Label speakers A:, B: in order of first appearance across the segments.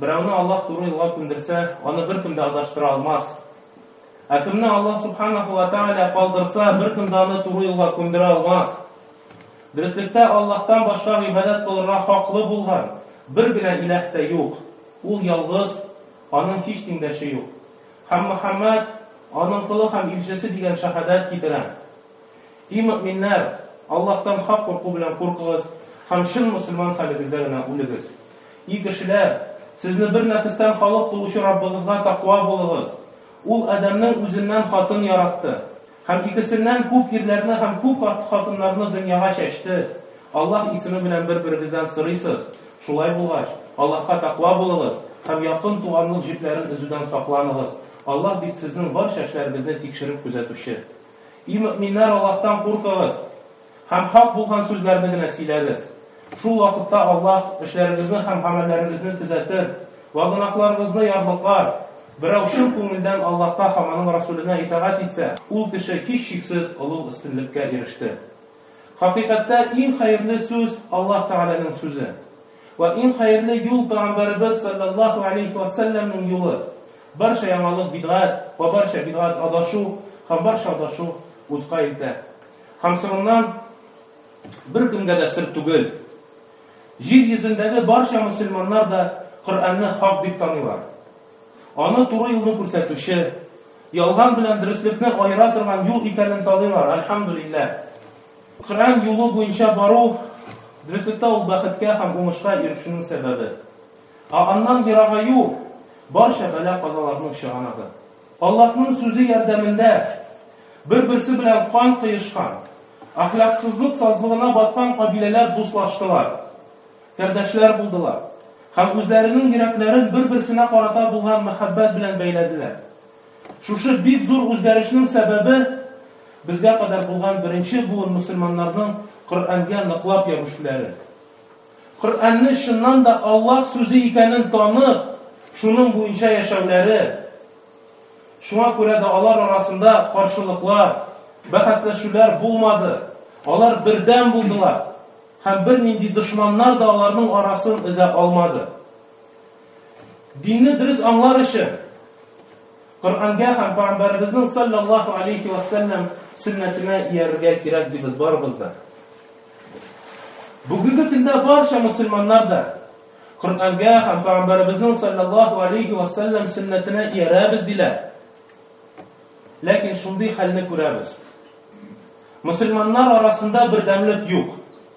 A: Берәүне Аллаһ туры юлга күндерсә, аны беркем дә адаштыра алмас. Ә кемне Аллаһ субханаху ва тааля калдырса, беркем дә аны туры юлга күндерә алмас. Дөреслектә Аллаһтан башка гыйбадәт кылырга хаклы булган бер генә иләһ тә юк. Ул ялгыз, аның һич тиңдәше юк. Һәм Мөхәммәд аның колы һәм илчесе дигән шәһадәт китерә. И мөэминнәр! Аллаһтан хак курку белән куркыгыз һәм чын мөселман хәлегездә генә үлегез. И кешеләр! Сезне бер нәфестән халык кылучы Раббыгызга такъва булыгыз. Ул Адәмнең үзеннән хатын яратты. Һәм икесеннән күп ирләрне һәм күп хатыннарны дөньяга чәчте. Аллаһ исеме белән бер-берегездән сорыйсыз. Шулай булгач, Аллаһка такъва булыгыз һәм якын туганлык җепләрен өзүдән сакланыгыз. Аллаһ бит сезнең барча эшләрегезне тикшереп күзәтүче. И мөэминнәр, Аллаһтан куркыгыз һәм хак булган сүзләрне генә сөйләгез. Шул вакытта Аллаһ эшләрегезне һәм гамәлләрегезне төзәтер вә гөнаһларыгызны ярлыклар. Берәү чын күңелдән Аллаһка һәм Аның Расүленә итагать итсә, ул кеше, һичшиксез, олуг өстенлеккә иреште. Хакыйкатьтә, иң хәерле сүз, Аллаһ Тәгаләнең сүзе. Вә иң хәерле юл Пәйгамбәребез салләллаһу алейһи вә сәлләмнең юлы. Барча яңалык бидгать, вә барча бидгать адашу, һәм барча адашу утка илтә. Һәм соңыннан, беркемгә дә сер түгел, җир йөзендәге барча мөселманнар да Коръәнне хак дип таныйлар. Аны туры юлны күрсәтүче, ялган белән дөреслекне аера торган юл икәнен таныйлар, әлхәмдүлилләһ. Коръән юлы буенча бару, дөреслектә ул бәхеткә һәм уңышка ирешүнең сәбәбе. Ә аннан ерагаю, барча бәла-казаларның чыганагы. Аллаһның сүзе ярдәмендә бер-берсе белән кан коешкан, әхлаксызлык сазлыгына баткан кабиләләр дуслаштылар, кардәшләр булдылар һәм үзләренең йөрәкләрен бер-берсенә карата булган мәхәббәт белән бәйләделәр. Шушы бик зур үзгәрешнең сәбәбе, безгә кадәр булган беренче буын мөселманнарның Коръәнгә ныклап ябешүләре. Коръәнне чыннан да Аллаһ сүзе икәнен танып, шуның буенча яшәүләре. Шуңа күрә дә алар арасында каршылыклар, бәхәсләшүләр булмады, алар бердәм булдылар һәм бернинди дошманнар да аларның арасын өзә алмады. Динне дөрес аңлар өчен Коръәнгә һәм Пәйгамбәребезнең саллаллаһу алейхи ва саллям сөннәтенә иярергә кирәк дибез барыбыз да. Бүгенге көндә барча мусульманнар да Коръәнгә һәм Пәйгамбәребезнең саллаллаһу алейхи ва саллям сөннәтенә иярәбез диләр. Ләкин шундый хәлне күрәбез. Мусульманнар арасында бердәмлек юк.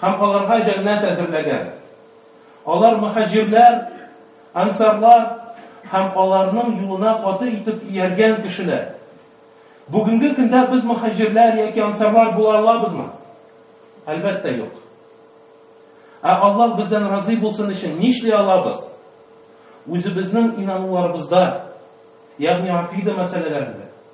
A: Һәм аларга җәннәт әзерләгән. Алар мөхаҗирләр, ансарлар һәм аларның юлына каты итеп ияргән кешеләр. Бүгенге көндә без мөхаҗирләр яки ансарлар була алабызмы? Әлбәттә, юк. Ә Аллаһ бездән разый булсын өчен нишли алабыз? Үзебезнең инануларыбызда, ягъни акыйда мәсьәләләрендә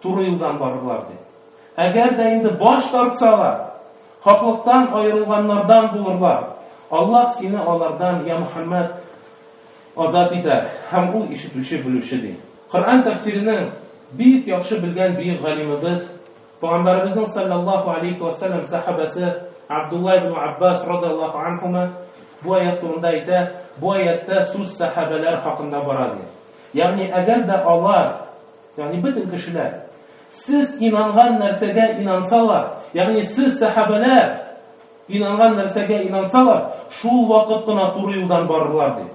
A: Туры юлдан барырлар, ди. Әгәр дә инде баш тартсалар, хаклыктан аерылганнардан булырлар. Аллаһ сине алардан, я Мөхәммәд, азат итәр, һәм Ул ишетүче, белүче, ди. Коръән тәфсиренең бик яхшы белгән бөек галимыбыз, Пәйгамбәребезнең саллаллаһу алейхи ва саллям сәхабәсе Абдулла ибн Аббас радиллаһу анһума бу аят турында әйтә, бу аяттә сүз сәхабәләр хакында бара ди. Ягъни әгәр дә алар Ягъни бөтен кешеләр, сез инанган нәрсәгә инансалар, ягъни сез сәхабәләр инанган нәрсәгә инансалар, шул вакыт кына туры юлдан барырлар ди.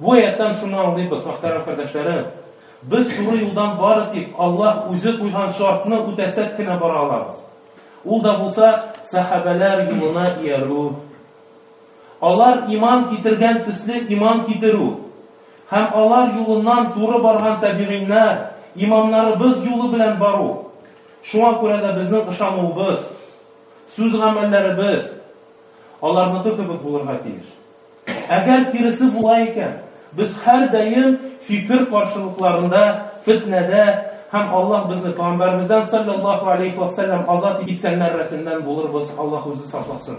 A: Бу аяттан шуны аңлыйбыз, мөхтәрәм кардәшләрем. Без туры юлдан бары тик Аллаһ үзе куйган шартны үтәсәк кенә бара алабыз. Ул да булса сәхабәләр юлына иярү Алар иман китергән төсле иман китерү һәм алар юлыннан туры барган табигыйннар, имамнарыбыз юлы белән бару. Шуңа күрә дә безнең ышануыбыз, сүз-гамәлләребез аларныкы кебек булырга тиеш. Әгәр киресе була икән, без һәрдаим фикер каршылыкларында, фетнәдә һәм Аллаһ безне пәгамбәребездән салләллаһу алейһи вә сәлләм азат иткәннәр рәтеннән булырбыз, Аллаһ үзе сакласын.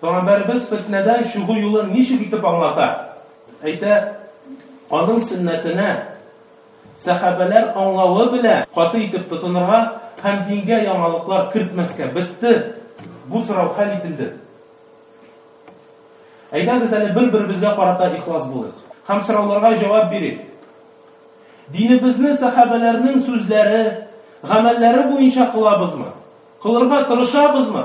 A: Пәйгамбәребез фетнәдән чыгу юлын ничек итеп аңлата? Әйтә, аның сөннәтенә сәхабәләр аңлавы белән каты итеп тотынырга һәм дингә яңалыклар кертмәскә бетте. Бу сорау хәл ителде. Әйдәгез әле бер-беребезгә карата ихлас булыйк һәм сорауларга җавап бирик. Динебезне сәхабәләрнең сүзләре, гамәлләре буенча кылабызмы? Кылырга тырышабызмы?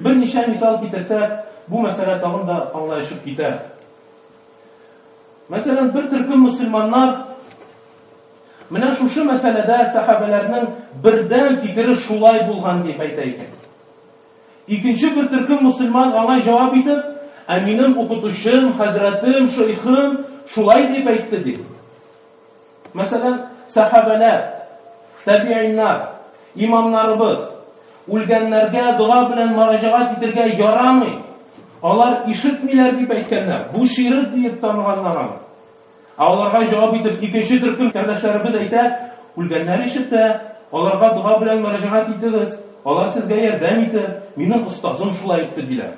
A: Берничә мисал китерсәк, бу мәсьәлә тагын да аңлаешып китә. Мәсәлән, бер төркем мөселманнар менә шушы мәсьәләдә сәхабәләрнең бердәм фикере шулай булган дип әйтә икән. Икенче бер төркем мөселман аңа җавап итеп, Ә минем укытучым, хәзрәтем, шейхым шулай дип әйтте, ди. Мәсәлән, сәхабәләр, тәбигыйннар, имамнарыбыз, Үлгәннәргә дога белән мәрәҗәгать итергә ярамый. Алар ишетмиләр дип әйткәннәр. Бу ширк диеп таныганнар аны. Ә аларга җавап итеп икенче төркем кардәшләребез әйтә, үлгәннәр ишетә, аларга дога белән мәрәҗәгать итегез, алар сезгә ярдәм итер, минем остазым шулай әйтте диләр.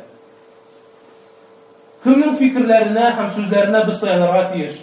A: Кемнең фикерләренә һәм сүзләренә без таянырга тиеш?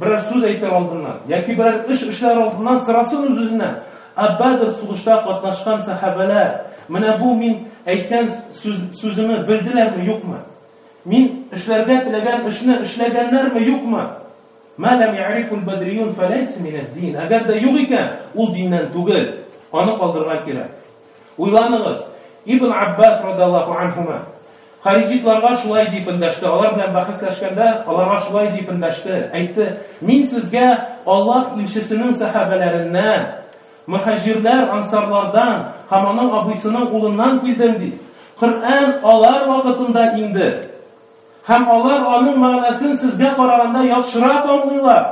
A: Берәр сүз әйтер алдыннан, яки берәр эш эшләр алдыннан сорасын үз-үзеннән, Ә Бәдр сугышта катнашкан сәхабәләр менә бу мин әйткән сүз, сүземне белделәрме, юкмы? Мин эшләргә теләгән эшне эшләгәннәрме, юкмы? Мәләм ярифул бадриюн фәләйсә минәд-дин. Әгәр дә юк икән, ул диннән түгел. Аны калдырырга кирәк. Уйланыгыз, Ибн Аббас радаллаху анһума, Хариҗитларга шулай дип эндәште, алар белән бәхәсләшкәндә, аларга шулай дип эндәште, әйтте, Мин сезгә Аллаһ илчесенең сәхабәләреннән, мөхәҗирләр, ансарлардан һәм аның абыйсының улыннан килдем, ди. Коръән алар вакытында инде. Һәм алар аның мәгънәсен сезгә караганда яхшырак аңлыйлар.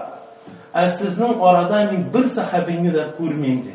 A: Ә сезнең арада мин бер сәхабине дә күрмим, ди.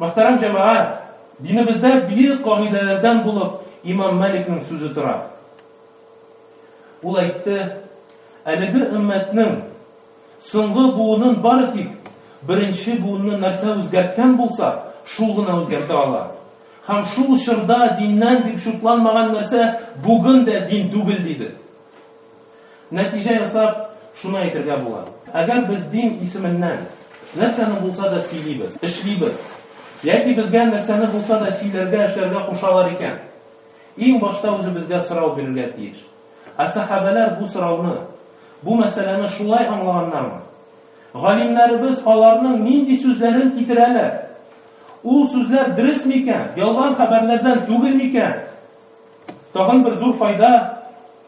A: Мөхтәрәм җәмәгать, динебездә бөек кагыйдәләрдән булып имам Мәликнең сүзе тора. Ул әйтте, Әлеге өммәтнең соңгы буынын бары тик беренче буынны нәрсә үзгәрткән булса, шул гына үзгәртә ала. Һәм шул чорда диннән дип шутланмаган нәрсә бүген дә дин түгел, диде. Нәтиҗә ясап, шуны әйтергә була, әгәр без дин исеменнән нәрсәне булса да сөйлибез, эшлибез, яки безгә нәрсәне булса да сөйләргә, эшләргә кушалар икән, иң башта үзебезгә сорау бирергә тиеш, Ә сәхабәләр бу сорауны, бу мәсьәләне шулай аңлаганнармы? Галимнәребез аларның нинди сүзләрен китерәләр? Ул сүзләр дөрес микән, ялган хәбәрләрдән түгел микән? Тагын бер зур файда,